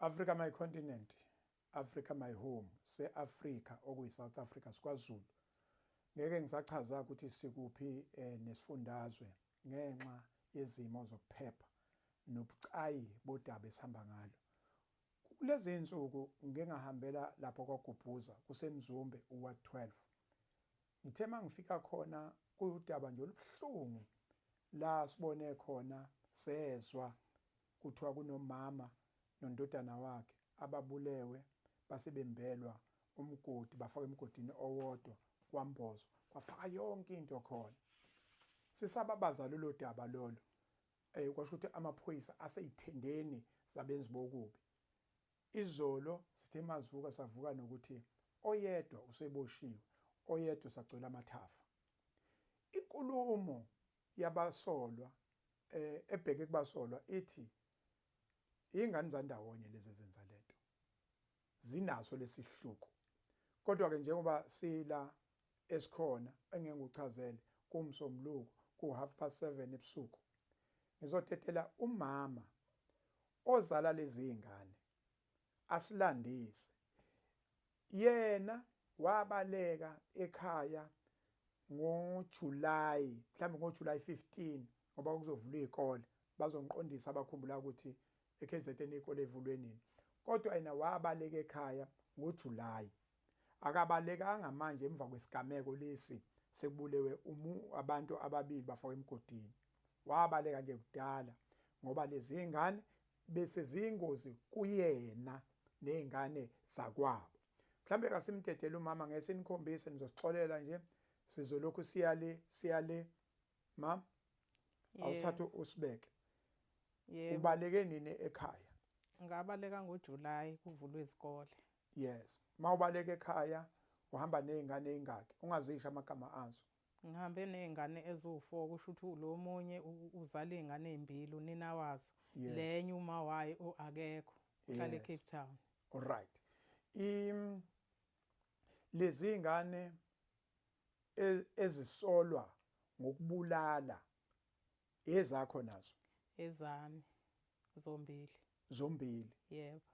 Africa my continent, Africa my home, se-Afrika okuyi-South Africa siKwaZulu. Ngeke ngisachaza ukuthi sikuphi eh, nesifundazwe ngenxa yezimo zokuphepha nobucayi bodaba esihamba ngalo. Kulezi insuku ngingahambela lapho kwagubhuza kusemzumbe uwa 12. Ngithe mangifika khona kuyudaba nje olubuhlungu la sibone khona sezwa kuthiwa kunomama nondodana wakhe ababulewe basebembelwa umgodi bafaka emgodini owodwa kwambozo kwafaka yonke into khona sisababaza lolo daba lolo eh kwasho ukuthi amaphoyisa aseyithendeni zabenzi bokubi Izolo sithe masivuka savuka nokuthi oyedwa useboshiwe, oyedwa usagcwele amathafa. Inkulumo yabasolwa eh, ebheke kubasolwa ithi ingane zandawonye lezi ezenza lento. Zinaso lesihluku. Kodwa ke njengoba sila esikhona engeke ngikuchazele kumsomluko ku half past 7 ebusuku ngizotetela umama ozala lezingane asilandise yena wabaleka ekhaya ngoJuly mhlawumbe ngoJuly 15 ngoba kuzovulwa izikole bazongiqondisa abakhumbula ukuthi eKZN ikole evulwe nini kodwa yena wabaleka ekhaya ngoJuly akabalekanga manje emva kwesigameko lesi sekubulewe umu abantu ababili bafakwa emgodini wabaleka nje kudala ngoba lezi ngane bese ziyingozi kuyena nezingane zakwabo mhlambe kasimdedele umama ngese nikhombise nizosixolela nje sizolokhu siya le siya le ma awuthathe usibeke ubaleke nini ekhaya ngabaleka ngoJuly kuvulwe izikole Yes. Uma ubaleka ekhaya uhamba nezingane ezingaki ungazisho amagama azo? Ngihambe nezingane eziwu-4 kusho ukuthi lo omunye uzala izingane ezimbili unina wazo. Yeah. Le enye uma wayo akekho. Uhlala yes. eCape Town. Alright. Im lezi zingane e, ezisolwa ngokubulala Ezakho nazo. Ezami zombili. Zombili. Yebo.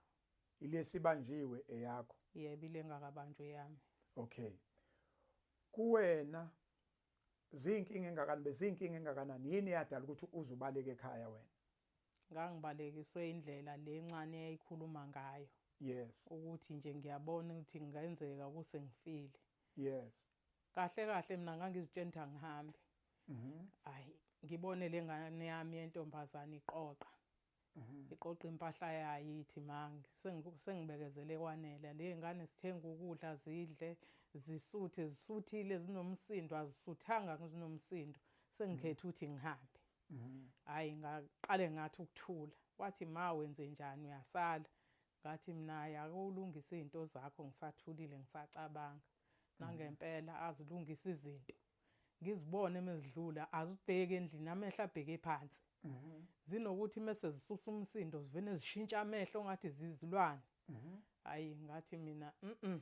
Ilesibanjiwe eyakho. Yebo ilengakabanjwe yami. Okay. Kuwena zinkinga engakani bezinkinga engakanani yini yadala ukuthi uzubaleke ekhaya wena? Ngangibalekiswe indlela lencane eyayikhuluma ngayo. Yes. Ukuthi nje ngiyabona ukuthi ngenzeka kusengifile. Yes. kahle kahle mina ngangizitshenta ngihambe mhm. hayi ngibone le ngane yami yentombazane iqoqa mhm. iqoqa impahla yayo ithi mangi sengibekezele kwanele le ngane sithenga ukudla zidle zisuthe zisuthile zinomsindo azisuthanga zinomsindo sengikhetha mhm. ukuthi ngihambe hayi ngaqale ngathi ukuthula wathi ma wenze njani uyasala Ngathi mina ay ake ulungise izinto zakho ngisathulile ngisacabanga nangempela azilungise izinto ngizibone uma zidlula azibheki endlini amehlo abheke phansi mhm. zinokuthi mese zisusa umsindo zivene zishintsha amehlo ngathi zizilwane mhm. hayi ngathi mina mhm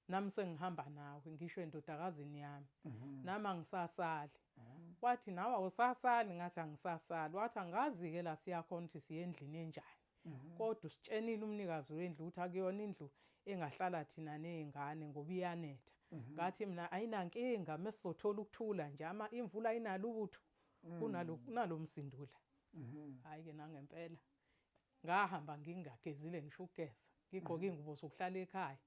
nami sengihamba nawe ngisho endodakazini yami mhm. nami angisasali mhm. wathi nawe awusasali ngathi angisasali wathi angazi-ke la siyakhona ukuthi siye endlini enjani mhm. kodwa usitshenile umnikazi wendlu ukuthi akuyona indlu engahlala thina ney'ngane ngoba iyanetha ngathi mina ayinankinga uma sizothola ukuthula nje ama imvula ayinalo ubutho kunalo msindula hhayi-ke nangempela ngahamba ngingagezile ngisho ukugeza ngigqoke iy'ngubo zokuhlala ekhaya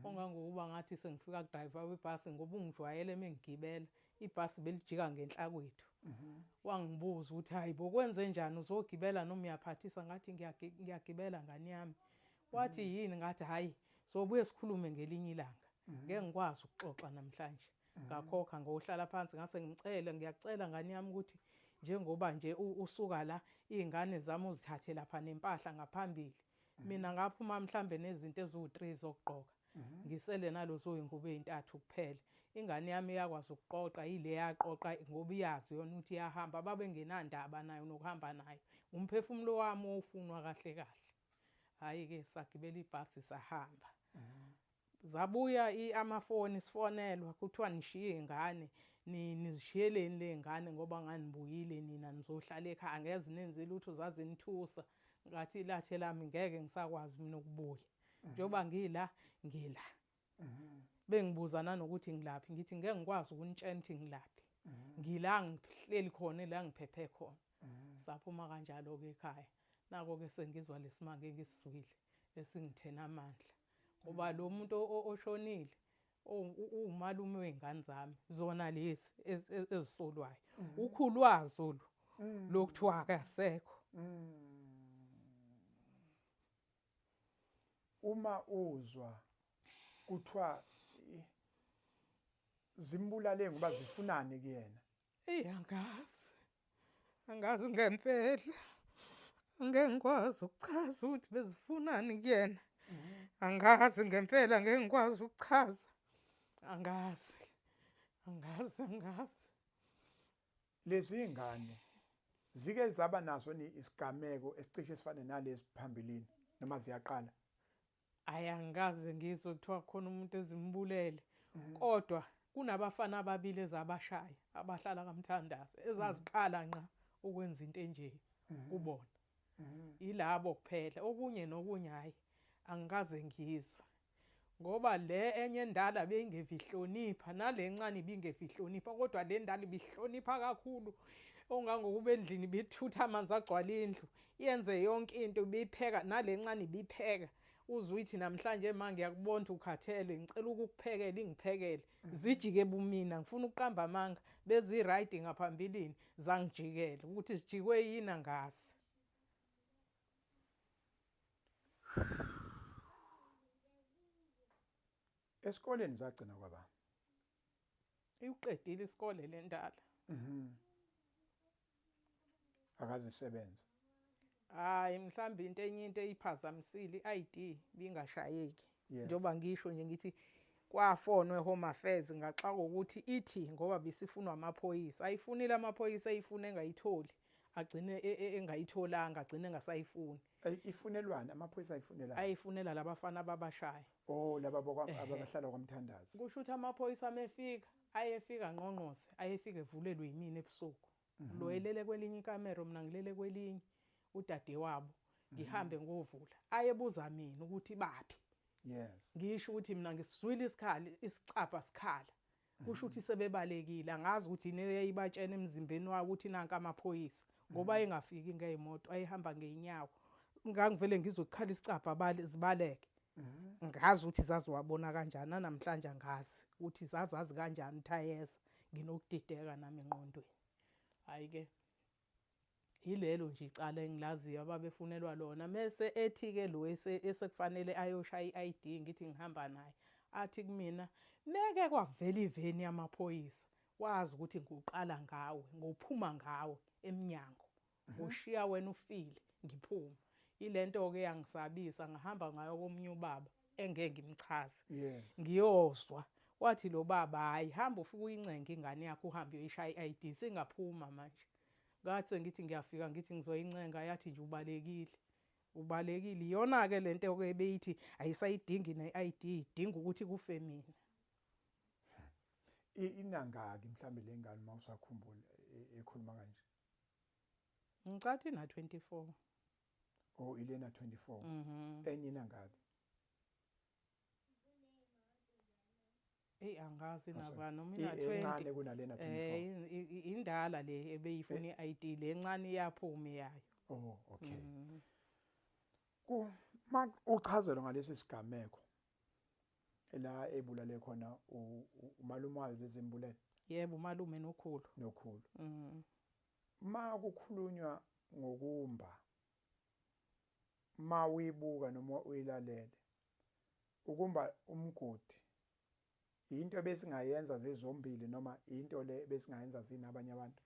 ongangokuba ngathi sengifika kudrayiva webhasi ngoba ungijwayele uma engigibela ibhasi belijika ngenhla kwethu wangibuza ukuthi hhayi bo kwenze njani uzogibela noma uyaphathisa ngathi ngiyagibela ngane yami wathi yini ngathi hhayi sobuye sikhulume ngelinye ilanga ngeke ngikwazi ukuxoxa namhlanje mhm. ngakhokha ngohlala phansi ngase ngimcele ngiyacela ngani yami ukuthi njengoba nje usuka la izingane zami uzithathe lapha nempahla ngaphambili mhm. mina ngaphuma mhlambe nezinto eziwu3 zokugqoka mhm. ngisele nalozo ingubo ezintathu kuphela ingane yami yakwazi ukuqoqa ile yaqoqa ngoba iyazi yona ukuthi yahamba babengenandaba nayo nokuhamba nayo umphefumulo wami ofunwa kahle kahle hayi ke sagibela ibhasi sahamba Zabuya i amafoni sifonelwa kuthiwa nishiye ingane nizishiyeleni lengane ngoba nganibuyile nina nizohlala ekhaya angeze nenze lutho zazinithusa ngathi ilathe lami ngeke ngisakwazi mina ukubuya mhm. njengoba ngila ngila mhm. bengibuza nanokuthi ngilaphi ngithi ngeke ngikwazi ukunitshela ukuthi ngilaphi mhm. ngila ngihleli khona la ngiphephe khona Saphuma kanjalo-ke ekhaya. Nako-ke sengizwa lesimanga engisizwile esingithena amandla ngoba lo muntu oshonile uwumalume wey'ngane zami zona lezi ezisolwayo mm. ukhulwazo lu mm. lokuthiwa akasekho mm. uma uzwa kuthiwa zimbulale ngoba zifunani kuyena Eyi angazi, angazi ngempela, ngeke ngikwazi ukuchaza ukuthi bezifunani kuyena, angazi ngempela, ngeke ngikwazi ukuchaza, angazi, angazi, angazi. Lezi ngane zike zaba naso ni isigameko esicishe sifane nalesi phambilini noma ziyaqala hayi angikaze ngizwe kuthiwa khona umuntu ezimbulele mhm. kodwa kunabafana ababili ezabashaya abahlala kamthandazi ezaziqala mhm. nqa ukwenza into enje mhm. kubona yilabo kuphela okunye nokunye hayi angikaze ngizwe ngoba le enye endala beyingevi ihlonipha nale ncane ibingevi ihlonipha kodwa le ndala ibihlonipha kakhulu ongangokuba endlini bithutha amanzi agcwala indlu yenze yonke into ibipheka nalencane ibipheka uzwithi namhlanje ma ngiyakubona ukuthi ukhathele ngicela ukukuphekela ingiphekele mhm. zijike bumina ngifuna ukuqamba amanga bezi-right ngaphambilini zangijikela ukuthi zijikwe yini angazi esikoleni zagcina kwaba iwuqedile isikole le ndala mhm. akazisebenze hayi mhlawumbe into enye into eyiphazamisile i-id bingashayeki njengoba ngisho nje ngithi kwafonwe home affairs ngaxa kokuthi ithi ngoba bisifunwa amaphoyisa ayifunile amaphoyisa eyifuna engayitholi agcine e, e, engayitholanga agcine engasayifuni ifunelwani amaphoyisa ayifunelani ayifunela labafana babashaya oh laba abahlala kwamthandazi kusho ukuthi amaphoyisa amefika Ayefika angqongqoze, ayefika evulelwe yimina ebusuku. Lo elele kwelinye ikamero, mina ngilele kwelinye, udadewabo, ngihambe ngovula. Ayebuza mina ukuthi baphi. Yes. Ngisho ukuthi mina ngisizwile isikhali, isicabha sikhala. Kusho ukuthi sebebalekile, angazi ukuthi yini eyayibatshena emzimbeni wawo ukuthi nanka amaphoyisa. Ngoba ayengafiki ngey'moto, ayehamba ngey'nyawo. Ngangivele ngizwe kukhala isicabha, bale, zibaleke. ngazi ukuthi zaziwabona kanjani nanamhlanje angazi ukuthi zazazi kanjani thayeza nginokudideka nami enqondweni hayi ke yilelo nje icala engilaziyo ababefunelwa lona mese ethi ke lo esekufanele ayoshaya i-ID ngithi ngihamba naye athi kumina meke kwavela iveni yamaphoyisa wazi ukuthi ngiwuqala ngawe ngophuma ngawe eminyango Ushiya wena ufile ngiphuma. Ilento ke yangisabisa ngahamba ngayo komunye ubaba engeke ngimchaze. Yes. Ngiyozwa wathi lo baba hayi hamba ufike uyincenge ingane yakho uhambe uyoyishaya i-ID singaphuma manje. Ngathi sengithi ngiyafika ngithi ngizoyincenga yathi nje ubalekile. Ubalekile iyona ke lento ke beyithi ayisayidingi ne-ID idinga ukuthi kufe mina. I- Inangaki mhlambe lengane uma usakhumbula e- ekhuluma kanje. Ngicatha ina 24. Oh ilena 24. Mhm. Enye inangaki? Ey angazi naba noma ina 20. Incane kunalena 24. Eh indala le ebeyifuna eh. iID le encane iyaphuma yayo. Oh okay. Mhm. Ku uchazelwa ngalesi sigameko la ebulale khona umalume wayo lezi mbulele yebo umalume nokhulu nokhulu mhm ma kukhulunywa ngokumba ma uyibuka noma uyilalele ukumba umgodi into besingayenza zizombili noma into le besingayenza zini abanye abantu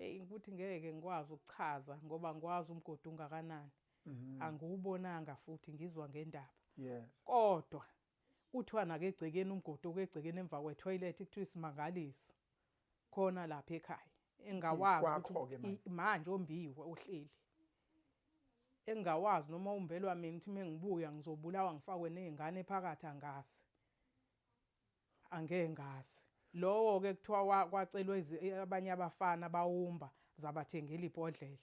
eyi ukuthi ngeke ngikwazi ukuchaza ngoba ngikwazi umgodi ungakanani mhm. angiwubonanga futhi ngizwa ngendaba yes kodwa kuthiwa nakegcekeni umgodi okegcekeni emva kwetoilet kuthiwa isimangaliso khona lapha ekhaya engawazi manje ombiwe uhleli engawazi noma umbelwa mina ukuthi mengibuya ngizobulawa ngifakwe nezingane phakathi angazi Angeke ngazi. Lowo ke kuthiwa wa- kwacelwa izi- i- abanye abafana bawumba zabathengela ibhodlela.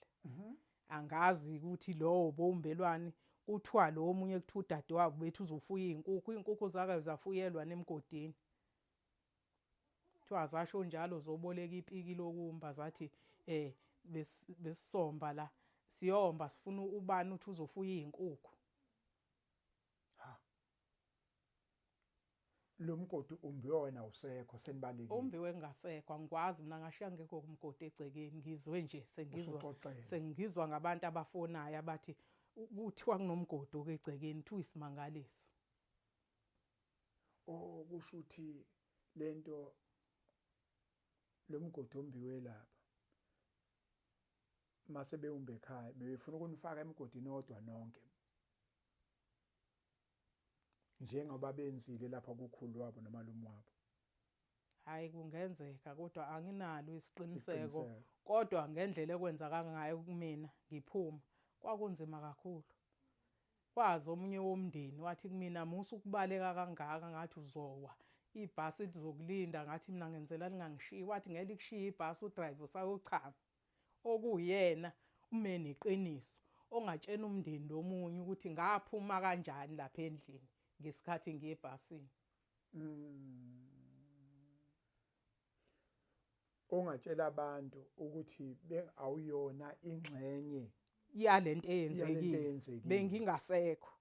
Angazi ukuthi lowo bowumbelwani kuthiwa lo omunye kuthiwa udadewabo bethi uzofuya izinkukhu, izinkukhu zakayo zafuyelwa nemgodini. Kuthiwa zasho njalo zoboleka ipiki lokumba zathi eh bes- besisomba la siyomba sifuna ubani uthi uzofuya izinkukhu. lo mgodi umbiwe wena awusekho senibalekile umbiwe ngasekho angikwazi mina ngashiya ngekho kumgodi egcekeni ngizwe nje sengizwa Usuxoxele. sengizwa ngabantu abafonayo abathi u- kuthiwa kunomgodi okegcekeni kuthiwa isimangaliso o kusho ukuthi lento lo mgodi ombiwe lapha mase bewumbe ekhaya bebefuna ukunifaka emgodini odwa nonke njengoba benzile lapha kukhulu wabo nomalume wabo hayi kungenzeka kodwa anginalo isiqiniseko kodwa ngendlela ekwenza kangayo kumina ngiphuma kwakunzima kakhulu kwazi omunye womndeni wathi kumina musa ukubaleka kangaka ngathi uzowa ibhasi lizokulinda ngathi mina ngenzela lingangishiyi wathi ngeke likushiye ibhasi udrive usayochama okuwuyena ume neqiniso ongatshena umndeni lomunye ukuthi ngaphuma kanjani lapha endlini ngesikhathi ngiye ebhasini mm. ongatshela abantu ukuthi awuyona ingxenye yalento eyenzekile bengingasekho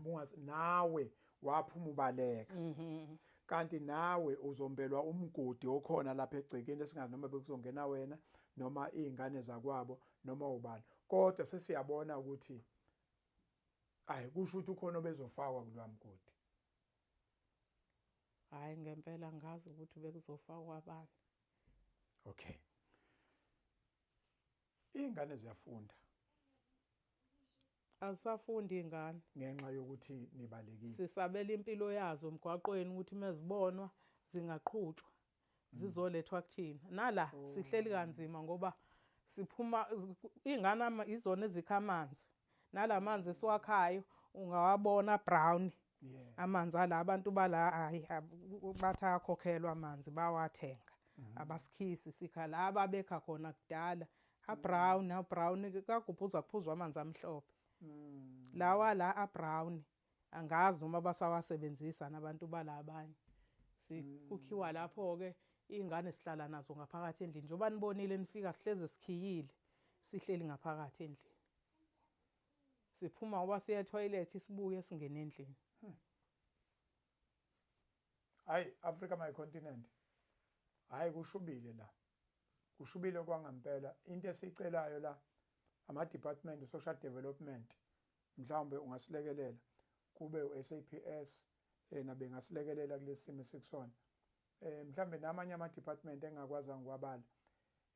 mungazi nawe waphuma ubaleka mhm. kanti nawe uzombelwa umgodi okhona lapha egcekeni esingazi noma bekuzongena wena noma izingane zakwabo noma ubani kodwa sesiyabona ukuthi ayi kusho ukuthi ukhona obezofakwa kulwa mgodi hayi ngempela ngazi ukuthi bekuzofakwa abani okay Iy'ngane ziyafunda. Azisafundi iy'ngane. Ngenxa yokuthi nibalekile. Sisabela impilo yazo emgwaqweni ukuthi uma zibonwa zingaqhutshwa mm. zizolethwa kuthina. Nala oh. sihleli kanzima ngoba siphuma iy'ngane izona ezikha amanzi. Nala manzi esiwakhayo ungawabona brown amanzi ala abantu bala hayi bathi akhokhelwa amanzi bawathenga mhm. abasikhisi sikha la ababekha khona kudala abrown mhm. abrown kagubhuza kuphuzwa amanzi amhlophe mm. lawa la abrown angazi noma basawasebenzisa nabantu bala abanye sikukhiwa mm. lapho ke ingane sihlala nazo ngaphakathi endlini njengoba nibonile nifika sihleze sikhiyile sihleli ngaphakathi endlini Siphuma ngoba siya etoilet sibuye singena endlini. Hmm. Hayi Africa my continent. Hayi kushubile la. Kushubile kwangampela into esicelayo la ama department social development mhlawumbe ungasilekelela kube uSAPS yena bengasilekelela kulesimo sikusona eh mhlambe namanye ama department engakwazi ngiwabala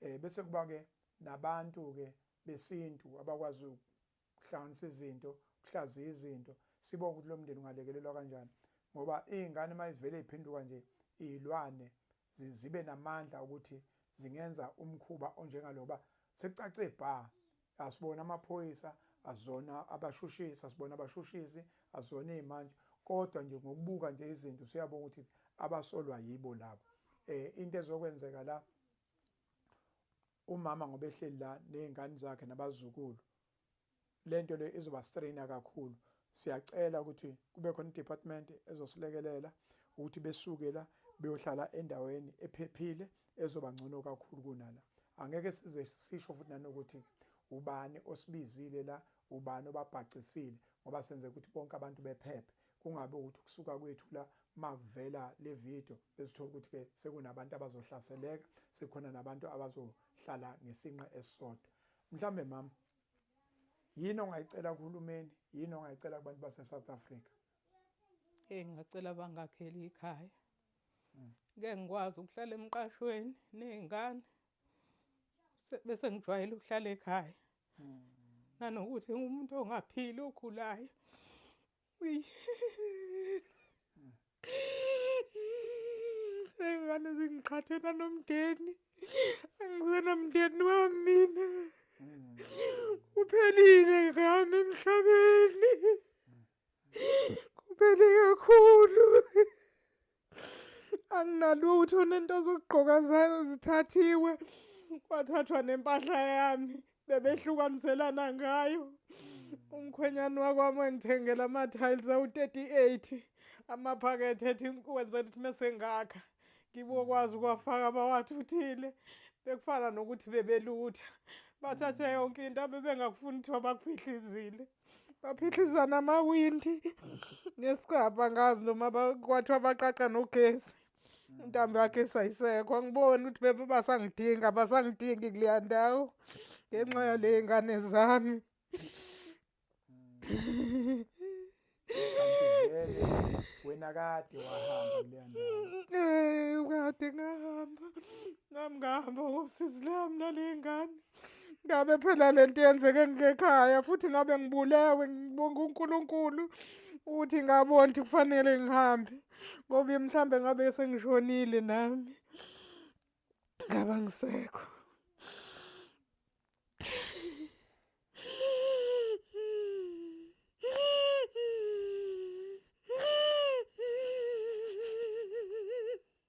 eh bese kuba ke nabantu ke besintu abakwazi ukuhlanganisa izinto kuhlaziya izinto sibo ukuthi lo mndeni ungalekelelwa kanjani ngoba izingane mayivele iphinduka nje izilwane zibe namandla ukuthi zingenza umkhuba onjengaloba sekucace bha asibona amaphoyisa azona abashushisi asibona abashushisi azona imanje kodwa nje ngokubuka nje izinto siyabona ukuthi abasolwa yibo labo eh into ezokwenzeka la umama ngoba ehleli la nezingane zakhe nabazukulu lento le izoba strainer kakhulu Siyacela ukuthi kube khona idepartment ezosilekelela ukuthi besuke la beyohlala endaweni ephephile ezoba ngcono kakhulu kunala. Angeke size sisho futhi nanokuthi ubani osibizile la ubani obabhacisile ngoba senze ukuthi bonke abantu bephephe kungabe ukuthi kusuka kwethu la makuvela le video besithola ukuthi ke sekunabantu abazohlaseleka sekukhona nabantu abazohlala ngesinqe esisodwa mhlambe mama yini ongayicela kuhulumeni yini ongayicela kubantu base-south africa eyi ngingacela bangakheli ikhaya hmm. ngeke ngikwazi ukuhlala emqashweni ney'ngane bese ngijwayele ukuhlala ekhaya hmm. nanokuthi umuntu ongaphili ogulayo Ingane zingiqhathela nomndeni. Angisenamndeni wamina. Kuphelile ngami emhlabeni. Kuphele kakhulu. anginalutho nento zokugqoka zayo zithathiwe kwathathwa nempahla yami bebehlukaniselana ngayo umkhwenyana wakwami engithengela ama-tiles awu-38 amaphakethe ethi wenze ukuthi mesengakha ngibokwazi ukuwafaka bawathuthile bekufana nokuthi bebelutha bathathe yonke into abebengakufuni kuthiwa bakuphihlizile baphihlizana amawindi ngesigabha ngazi noma kwathiwa abaqaqa nogesi intambo yakhe esayisekho angiboni ukuthi bebe basangidinga basangidingi kuleya ndawo ngenxa yale ngane zami wena kade wahamba kuleya ndawo kade ngahamba nami ngahamba ngosizi lami nale ngane ngabe phela le nto yenzeke ngekhaya futhi ngabe ngibulewe ngibonga uNkulunkulu ukuthi ngabona ukuthi kufanele ngihambe ngoba mhlawumbe ngabe sengishonile nami ngaba ngisekho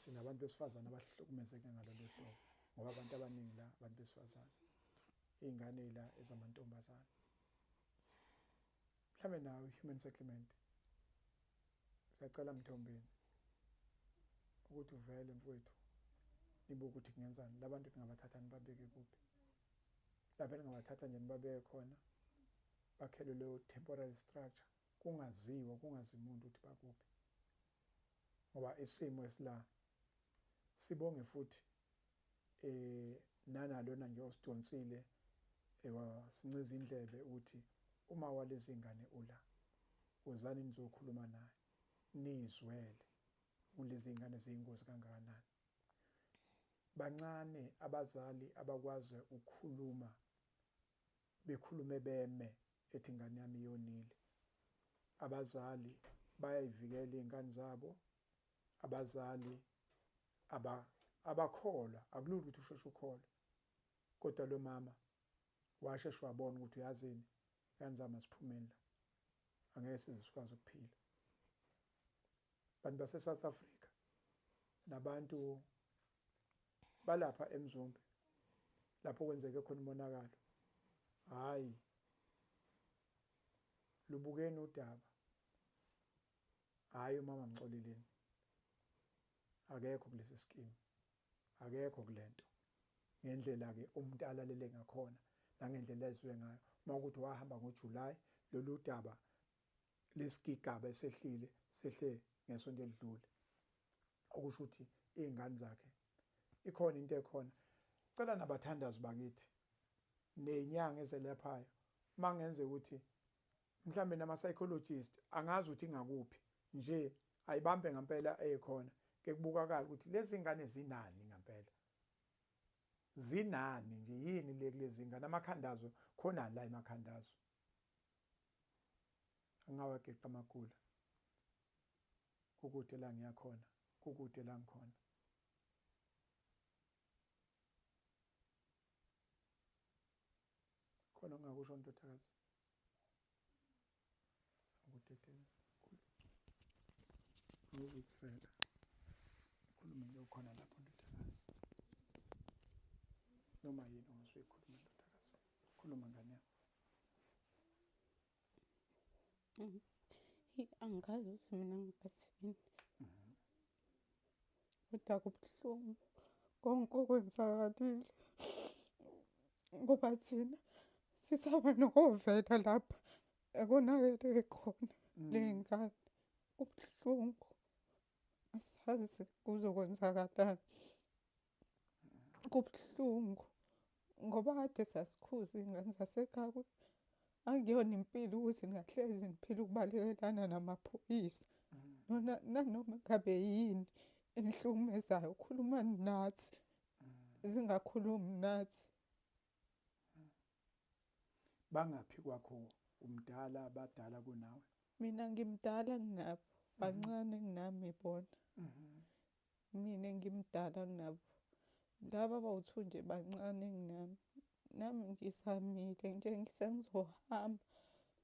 sinabantu besifazane abahlukumezeke ngalolu hlobo ngoba abantu abaningi la abantu besifazane iy'ngane la ezamantombazane mhlawumbe nawo i-human settlement siyacela mthombeni ukuthi uvele mfowethu nibuke ukuthi kungenzani labantu ningabathatha nibabeke kuphi lapha ningabathatha nje nibabeke khona bakhelwe leyo temporary structure kungaziwa kungazi muntu ukuthi bakuphi ngoba isimo esila sibonge futhi eh nana lona nje osidonsile ewasincinza indlebe ukuthi uma walezi ngane ula wozani nizokhuluma naye nizwele kulezi ngane ziyingozi kangakanani bancane abazali abakwazi ukukhuluma bekhulume beme ethi ingane yami yonile abazali bayayivikela izingane zabo abazali aba abakholwa akulula ukuthi usheshe ukhole kodwa lo mama washeshe wabona ukuthi uyazini ingane zami asiphumeni la angeke size sikwazi ukuphila bantu base-south africa nabantu balapha emzombe lapho kwenzeke khona umonakalo hayi lubukeni udaba hayi umama mxoleleni akekho kulesi scheme akekho kulento ngendlela ke umuntu alalele ngakhona nangendlela ezwe ngayo uma ukuthi wahamba ngoJuly lolu daba lesigigaba esehlile sehle ngesonto elidlule okusho ukuthi izingane zakhe ikhona into ekhona cela nabathandazi bakithi nenyanga ezelaphayo mangenze ukuthi mhlambe nama psychologist angazi ukuthi ngakuphi nje ayibambe ngempela ekhona ke kubukakala ukuthi lezi ngane zinani ngempela zinani nje yini le kulezi ngane amakhandazo khona la emakhandazo angawageqa amagula kukude la ngiya khona kukude la ngikhona khona ungakusho ndodakazi ngikudedela ngizikufela khulume nje ukhona lapho ndodakazi noma yini ongasoyikhuluma ndodakazi khuluma ngane yami angazi ukuthi mina ngibathini kodwa kubuhlungu konke okwenzakalile ngoba thina sisaba nokovela lapha ekonakele khona mm. ley'ngane kubuhlungu asazi kuzokwenzakalani kubuhlungu ngoba kade sasikhuza iy'ngane zasekhaya angiyona impilo ukuthi ngahlezi ngiphila ukubalekelana namaphoyisa nona nanoma ngabe yini enihlukumezayo ukhuluma nathi zingakhulumi nathi bangaphi kwakho umdala abadala kunawe mina ngimdala nginabo bancane nginami bona mhm. Mina ngimdala kunabo. Laba bawu-two nje bancane kunami. Nami ngizamile nje sengizohamba.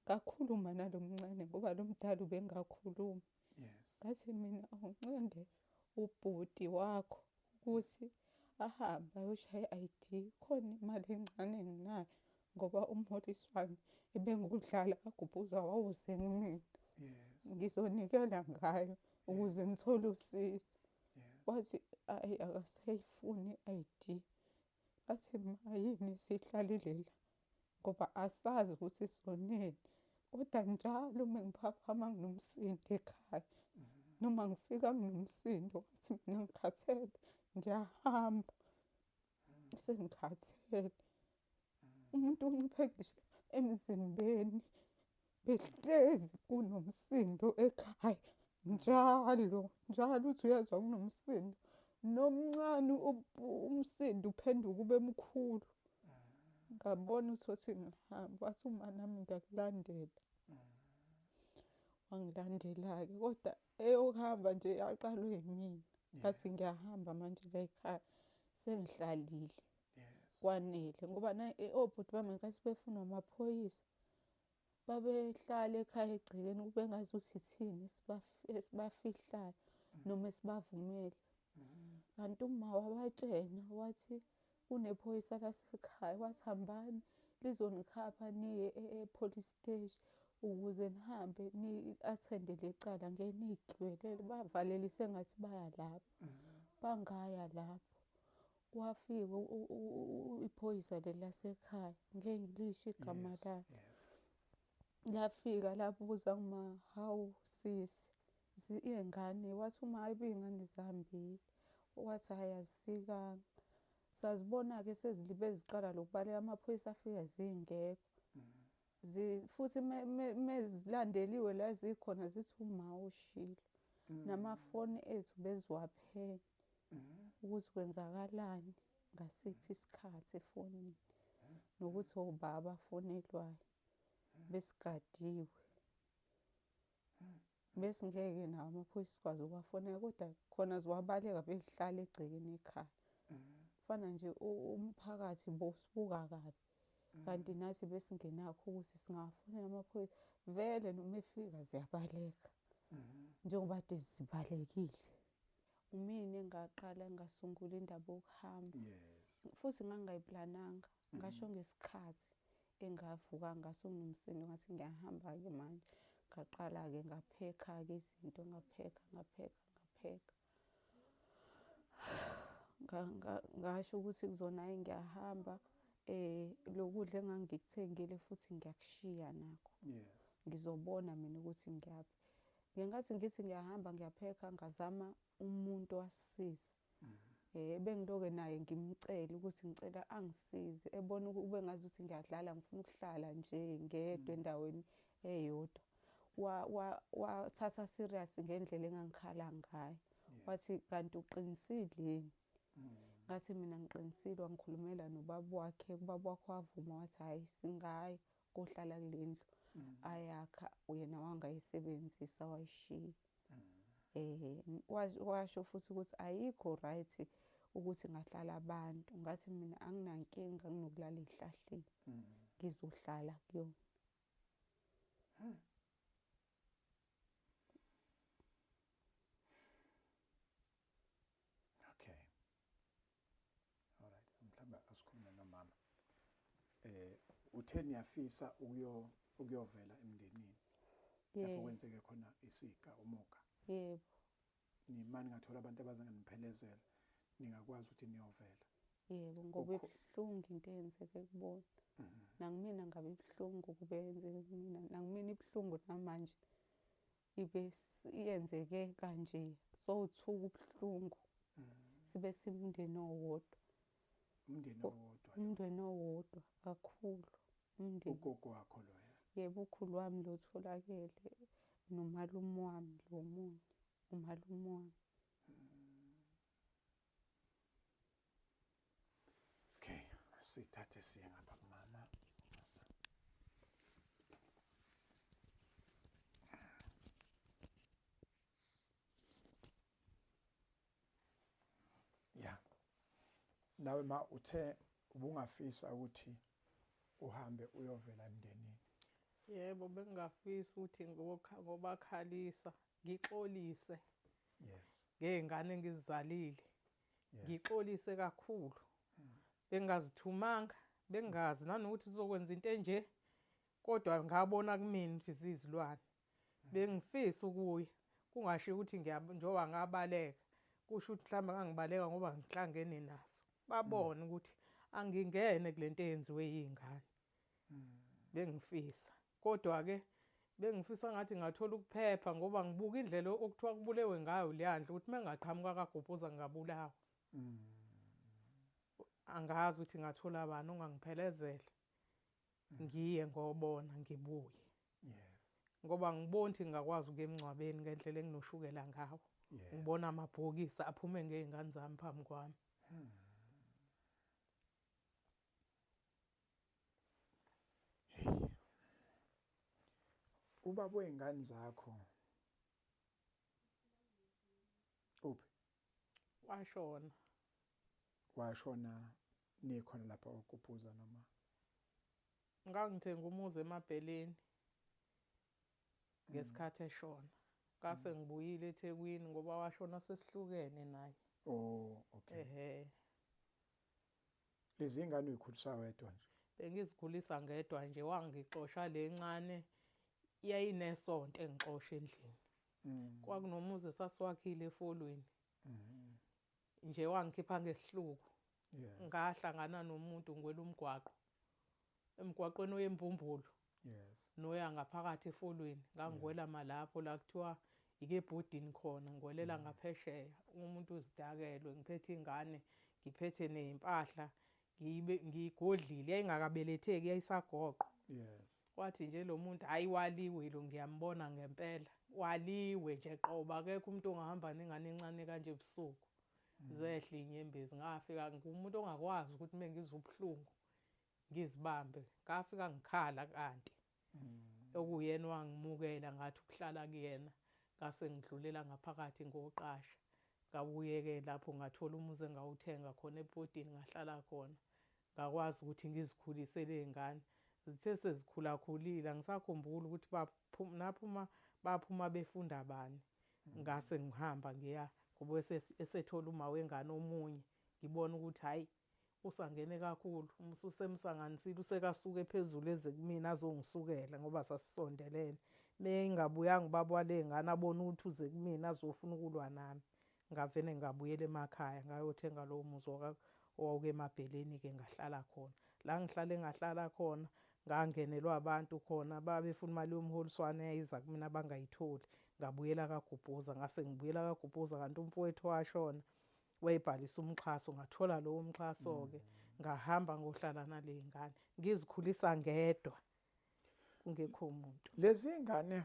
Ngakhuluma nalo mncane ngoba lo mdala ubengakhulumi. Yes. Ngathi mina awunqende ubhuti wakho ukuthi ahambe ayoshaya i-ID khona imali encane enginayo ngoba umholiswano ebengudlala kagubhuza wawuzeni mina yes ngizonikela ngayo ukuze ngithole usizo wathi ayi akasayifuni i-id bathi mayini sihlalile la ngoba asazi ukuthi sonini kodwa njalo uma ngiphaphama nginomsindo ekhaya noma ngifika nginomsindo wathi mina ngikhathele ngiyahamba sengikhathele umuntu unciphe ngisho emzimbeni behlezi kunomsindo ekhaya njalo njalo uthi uyezwa kunomsindo nomncane umsindo uphenduka ube mkhulu ngabona usothi ngihamba wathi uma nami ngiyakulandela wangilandela-ke kodwa eyokuhamba nje yaqalwe yimina ngathi ngiyahamba manje layikhaya sengihlalile kwanele ngoba eh, obhuti bami ngenkathi befuna amaphoyisa babehlala ekhaya egcekeni kube ngazi ukuthi ithini esibafihlayo mm. noma esibavumele mm. kanti uma wabatshena wathi kunephoyisa lasekhaya wathi hambani lizonikhapha niye e-police e-, stage ukuze nihambe ni-athende le cala ngeke niyigcwelele bavalele sengathi baya lapho bangaya lapho kwafika iphoyisa leli lasekhaya ngeke ngilisho igama lakhe lafika labuza uma hawu sisi Ziyengane wathi uma ebuya ingane zihambile wathi hhayi azifikanga sazibona-ke sezilibe ziqala lokubaleka amaphoyisa afika zingekho mm. futhi mezilandeliwe la zikhona zithi uma ushilo mm. namafoni ethu beziwaphenya mm. ukuthi kwenzakalani ngasiphi isikhathi efonini nokuthi obaba afonelwayo besigadiwe besingeke nawo amaphoyisa sikwazi ukuwafonela kodwa khona ziwabaleka behlala egcekeni ekhaya fana nje umphakathi bosibuka kabi kanti nathi besingenakho ukuthi singawafonela amaphoyisa vele noma efika ziyabaleka njengoba kade zibalekile umina engaqala ngasungula indaba yokuhamba futhi ngangingayiplananga ngasho ngesikhathi engavuka ngaso nomsindo ngathi ngiyahamba-ke manje ngaqala-ke ngaphekha-ke izinto ngaphekha ngaphekha ngaphekha ngasho ukuthi kuzona ayi ngiyahamba eh lokudla engangikuthengile futhi ngiyakushiya nakho yes ngizobona mina ukuthi ngiyaphi ngenkathi ngithi ngiyahamba ngiyaphekha ngazama umuntu wasisiza eh bengiloke naye ngimcela ukuthi ngicela angisize ebona ube ngazi ukuthi ngiyadlala ngifuna ukuhlala nje ngedwa endaweni eyodwa wathatha serious ngendlela engangikhala ngayo wathi kanti uqinisile yini mm. ngathi mina ngiqinisile wangikhulumela nobaba wakhe ubaba wakho wavuma wathi hhayi singayi kohlala kulendlu mm. ayakha uyena wangayisebenzisa wayishiya mm. eh washo futhi ukuthi ayikho right ukuthi ngahlala abantu ngathi mina anginankinga nginokulala ezihlahleni mm. ngizohlala kuyona hmm. Alright, mhlawumbe asikhulume nomama. Eh uthe niyafisa ukuyo ukuyovela emndenini. Lapho kwenzeke khona isika umuka. Yebo. Nimani ngathola abantu abazanganiphelezela ningakwazi ukuthi niyovela. Yebo ngoba ibuhlungu into eyenzeke kubona. Mhm. Nangimina ngabe ibuhlungu kube yenzeke kumina. Nangimina ibuhlungu namanje. ibe yenzeke kanje sowuthuka ubuhlungu mm. sibe simndeni owodwa umndeni owodwa umndeni owodwa kakhulu umndeni ugogo wakho loya yebo ukhulu wami lo tholakele nomalume wami lo munye umalume wami Okay, sithathe siye ngapha kumama. Yeah. Nawe ma uthe ubungafisa ukuthi uhambe uyovela emndenini. Yebo bengingafisa ukuthi ngobakhalisa ngixolise. Yes. Ngezingane engizizalile. ngixolise kakhulu bengingazithumanga bengazi nanokuthi sizokwenza into enje kodwa ngabona kumina ukuthi zizilwane bengifisa ukuya kungasho ukuthi njengoba ngabaleka kusho ukuthi mhlawumbe ngangibaleka ngoba ngihlangene naso babone ukuthi angingene kule nto eyenziwe yiy'ngane bengifisa kodwa ke bengifisa ngathi ngathola ukuphepha ngoba ngibuka indlela okuthiwa kubulewe ngayo leyandle ukuthi mengaqhamuka kagobhoza ngingabulawa mm. angazi ukuthi ngathola bani ongangiphelezela mm. ngiye ngobona ngibuye yes ngoba ngibona ukuthi ngingakwazi ukuya emngcwabeni ngendlela enginoshukela ngawo ngibona amabhokisi aphume ngey'ngane zami phambi kwami hmm. Hey. Ubaba wey'ngane zakho uphi? Washona. Washona nikhona lapha kwaKupuza noma? Ngangithenga umuzi emabheleni ngesikhathi eshona. Ngase mm. ngibuyile eThekwini ngoba washona sesihlukene naye. Oh, okay. Ehhe. Lezi ingane uyikhulisa wedwa nje. Bengizikhulisa ngedwa nje wangixosha le ncane yayinesonto engixosha endlini. Mm. Kwakunomuzi esasiwakhile efolweni. Mm. Nje wangikhipha ngesihluku. Yes. Ngahlangana nomuntu ngwela umgwaqo. Emgwaqweni oyembumbulu. Yes. Noya ngaphakathi efolweni ngangiwela yeah. malapho la kuthiwa ike bhodini khona ngiwelela mm. ngaphesheya umuntu uzidakelwe ngiphethe ingane ngiphethe nezimpahla ngibe ngigodlile yayingakabeletheki yayisagoqo yes wathi nje lo muntu hayi waliwe lo ngiyambona ngempela waliwe nje qoba akekho umuntu ongahamba nengane encane kanje ebusuku mm. zehle inyembezi ngafika ngumuntu ongakwazi ukuthi mengizobuhlungu ngizibambe ngafika ngikhala kanti mm. okuyena wangimukela ngathi ukuhlala kuyena ngase ngidlulela ngaphakathi ngoqasha ngabuyeke lapho ngathola umuzi engawuthenga khona ebhodini ngahlala khona ngakwazi ukuthi ngizikhulise ley'ngane zithe sezikhulakhulile angisakhumbuli ukuthi naphuma baphuma befunda bani mm. ngase ngihamba ngiya ngoba esethola uma wengane omunye ngibona ukuthi hhayi usangene kakhulu ususemsanganisile usekasuke phezulu eze kumina azongisukela ngoba sasisondelene meyingabuyanga ubaba walengane abona ukuthi uze kumina azofuna ukulwa nami ngavele ngabuyela emakhaya ngayothenga lowo muzi owawuke emabheleni-ke ngahlala khona la ngihlale ngahlala khona ngangenelwa abantu khona babefuna imali yomholiswane yayiza kumina bangayitholi ngabuyela kagubhuza ngase ngibuyela kagubhuza kanti umfowethu washona wayebhalisa umxhaso ngathola lowo mxhaso-ke mm. ngahamba ngohlala nale ngane ngizikhulisa ngedwa kungekho umuntu lezi ngane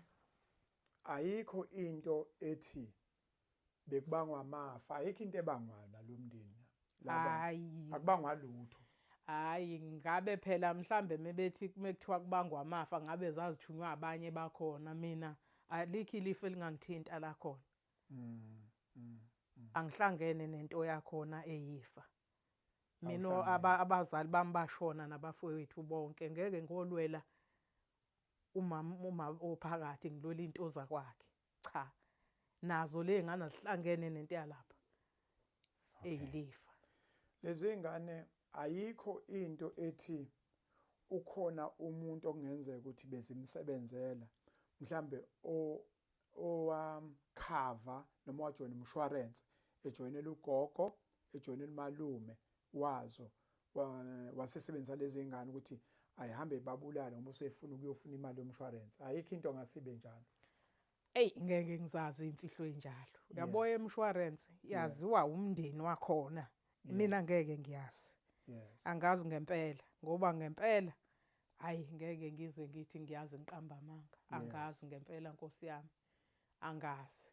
ayikho into ethi bekubangwa amafa ayikho into ebangwa nalomndeni hayi akubangwa lutho hayi ngabe phela mhlambe mebethi mekuthiwa kubangwa amafa ngabe zazithunywa abanye bakhona mina alikho ilifu elingangithinta la khona mm, mm, mm. angihlangene nento yakhona eyifa mina abazali bami bashona nabafowethu bonke ngeke ngolwela umama uma ophakathi ngilwela into zakwakhe cha nazo le ngane zihlangene nento yalapha eyilifa lezi ngane ayikho into ethi ukhona umuntu okungenzeka ukuthi bezimsebenzela mhlambe o owakhava um, noma wajoyina umshwarense ejoyinela ugogo ejoyinela umalume wazo wasesebenzisa lezi ngane ukuthi ayihambe ibabulale ngoba usefuna ukuyofuna imali yomshwarense ayikho into ngasibe njalo eyi ngeke ngizazi imfihlo enjalo yabo emshwarense yaziwa umndeni wakhona mina ngeke ngiyazi angazi ngempela ngoba ngempela hayi ngeke ngize ngithi ngiyazi ngiqamba amanga angazi ngempela nkosi yami angazi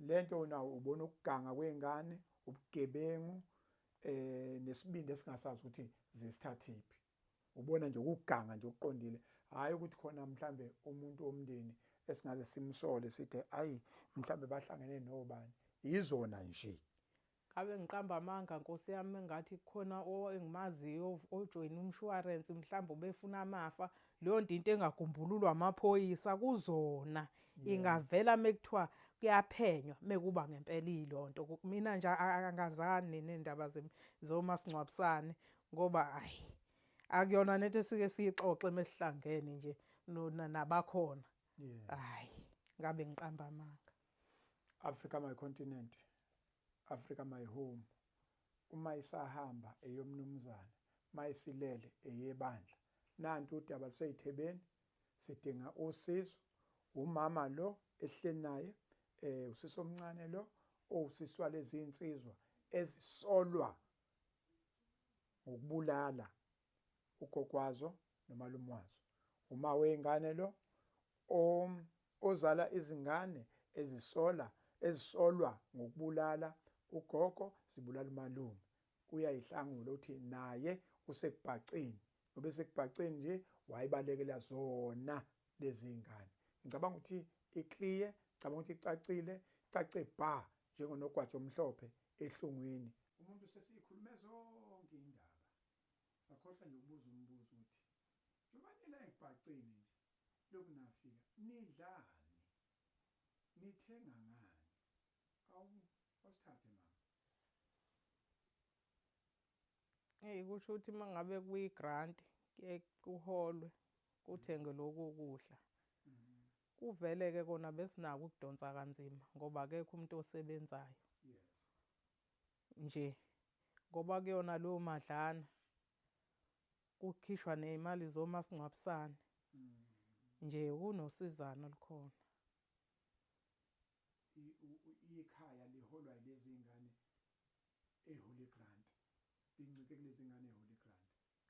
lento nawo ubona ukuganga kwengane ubugebengu eh nesibindi esingasazi ukuthi zisithathiphi ubona nje ukuganga nje okuqondile hayi ukuthi khona mhlambe umuntu omndeni esingaze simsole sithe ayi mhlambe bahlangene nobani izona nje Ngabe ngiqamba amanga nkosi yami engathi kukhona engimaziyo ojoyina umshwarensi mhlawumbe ubefuna amafa leyo nto into engagumbululwa amaphoyisa kuzona ingavela mekuthiwa kuyaphenywa mekuba ngempela ilonto mina nje angazani nendaba zomasingcwabisane ngoba ayi akuyona nento esike siyixoxe mesihlangene nje nabakhona hayi ngabe ngiqamba amanga Africa my continent Africa my home uma isahamba eyomnumzane uma isilele eyebandla nanti udaba luseyithebeni sidinga usizo umama lo ehleli naye eh usisi omncane lo owusiswa lezi insizwa ezisolwa ngokubulala ugogwazo nomalume wazo uma weyingane lo ozala izingane ezisola ezisolwa ngokubulala ugogo zibulala umalume uyayihlangula uthi naye usekubhaceni ngoba esekubhaceni nje wayibalekela zona lezi ngane ngicabanga ukuthi iclear ngicabanga ukuthi icacile cace bha njengonogwaja omhlophe ehlungwini umuntu sesiyikhulume zonke indaba sakhohlwa nje ukubuza umbuzo uthi njengoba nila ekubhaceni nje lokhu nafika nidlani nithenga ngani awu awusithathe mama Hey kusho ukuthi mangabe kuyi grant kuholwe kuthenge mm. lokho kudla. Mm. Kuvele ke kona besinako ukudonsa kanzima ngoba akekho umuntu osebenzayo. Yes. nje ngoba kuyona leyo madlana kukhishwa nezimali zomasingcwabisane mm. nje kunosizana likhona ikhaya liholwa ilezi ngane eholy grant lincike kulezi ngane eholy grant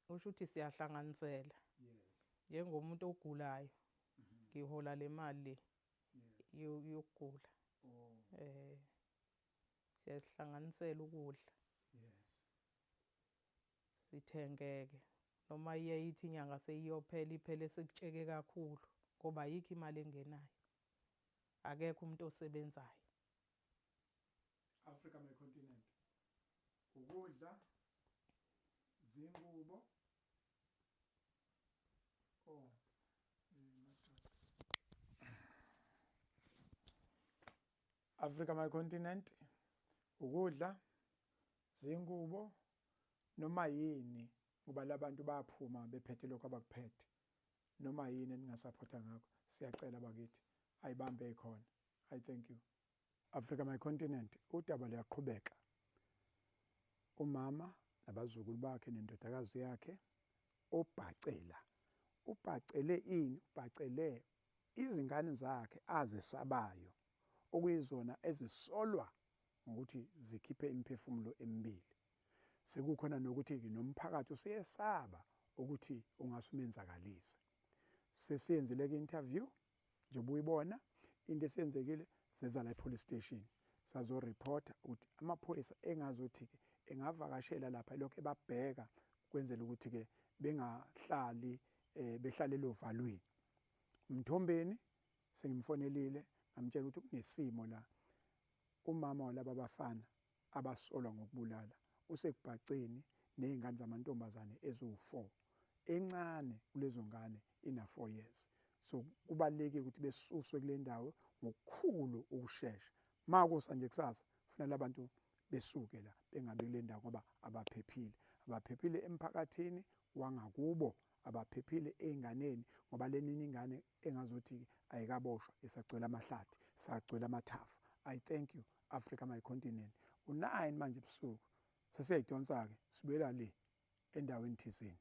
usho ukuthi siyahlanganisela yes njengomuntu ogulayo mm-hmm. ngihola le mali le yokugula oh eh siyazihlanganisela ukudla yes sithengeke noma iye ithi inyanga seyiyophela iphele sekutsheke kakhulu ngoba ayikho imali engenayo akekho umuntu osebenzayo Africa my continent ukudla zingubo oh eh, Africa my continent ukudla zingubo noma yini ngoba labantu bayaphuma bephethe lokho abakuphethe noma yini eningasaphotha ngakho siyacela bakithi ayibambe ikhona i thank you Africa my continent udaba luyaqhubeka umama nabazukulu bakhe nendodakazi yakhe obhacela ubhacele ini ubhacele izingane zakhe azesabayo okuyizona ezisolwa ngokuthi zikhiphe imiphefumulo emibili. Sekukhona nokuthi nomphakathi useyesaba ukuthi ungase umenzakalise. Sesiyenzile ke interview njengoba uyibona into esenzekile seza la epolice station sazo reporter ukuthi amaphoyisa engazothi ke engavakashela lapha lokho ebabheka kwenzela ukuthi ke bengahlali eh, behlale lovalweni umthombeni Sengimfonelile ngamtshela ukuthi kunesimo la. Umama walaba bafana abasolwa ngokubulala usekubhaceni nezingane zamantombazane eziwu-4. Encane kulezo ngane ina-4 years. So kubalulekile ukuthi besuswe kule ndawo ngokukhulu ukushesha. Ma kusa nje kusasa kufanele abantu besuke la bengabi kule ndawo ngoba abaphephile abaphephile emphakathini wangakubo abaphephile ey'nganeni ngoba leninye ingane engazothi-ke ayikaboshwa isagcwele amahlathi sagcwele amathafa i thank you africa my continent u-9 manje ebusuku sesiyayidonsa-ke sibuyela le endaweni thizeni